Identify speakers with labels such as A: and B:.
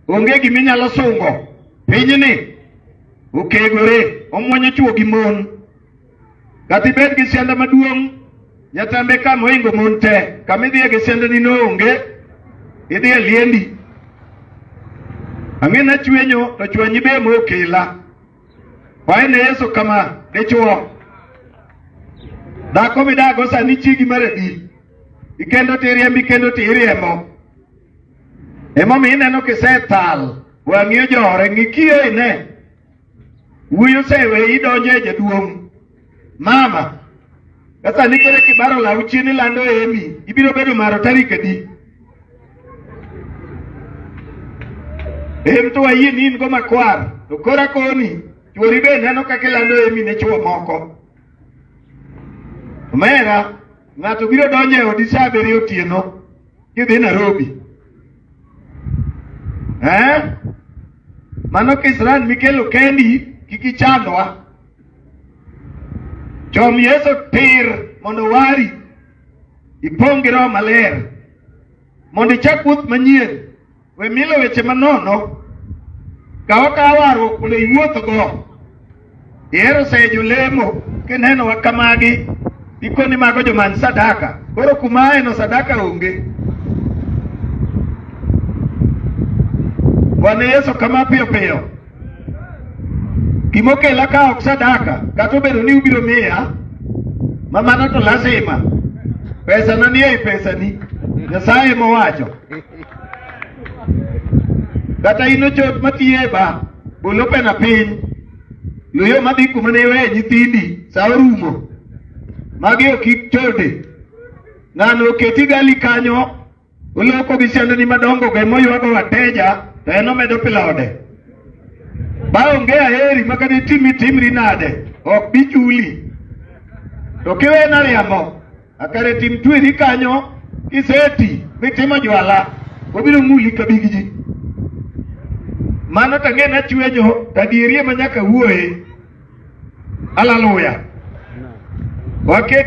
A: Onge gima inyalo sungo pinyni okegore omwonyo chwo gi mon kata ibed gi sianda maduong' nyatambe ka moingo mon te kama idhiye gi siandani noonge idhi e liendi ang'e na chwenyo to chwenyi be mokela wae ne yesu kama dichwo dhako midago sani chigi mar adi ikendo tiriembi kendo tiriembo Emomiyo ineno kisethal wang'i ojore ng'ikiyo ine wuoyi osewe idonjo e jaduong' mama sasa ni koro kibaro law chien ilando emi ibiro bedo maro tarik adi em to wayie ni in go makwar to kora koni chuori be neno kaka ilando emi ne chuo moko omera ng'ato biro donjo e odi sa abiriyo otieno kidhi Nairobi eh? Mano kisirani mikelo kendi kik ichandwa. Chom Yesu tir mondo wari ipong' gi Roho Maler mondo ichak wuoth manyien We milo weche manono kaw akawa warruok mondo iwuothgo. Ihero sayo jolemo kineno wa kamagi ikoni mago joman sadaka koro kuma aeno sadaka onge. Bwana Yesu kama piyo piyo. Gimokela ka ok sadaka, kata obedo ni ubiro miya ma mano to lazima pesa na nie pesani, Nyasaye mowacho. Kata in ochot matiye ba bolo pena piny loyo madhi kuma ne iweye nyithindi sa orumo magi ok ichode ng'ano oketi gali kanyo Uloko gi siandeni madongo go ema oywago wateja to en omedo pilode. Ba onge aheri ma kata itimi timri nade ok bi chuli. To kiwena riambo akare tim tweri kanyo kiseti mitimo jwala obiro muli ka big ji. Mano to ang'e ni achwenyo to adieri ema nyaka wuoye. Haleluya. Waket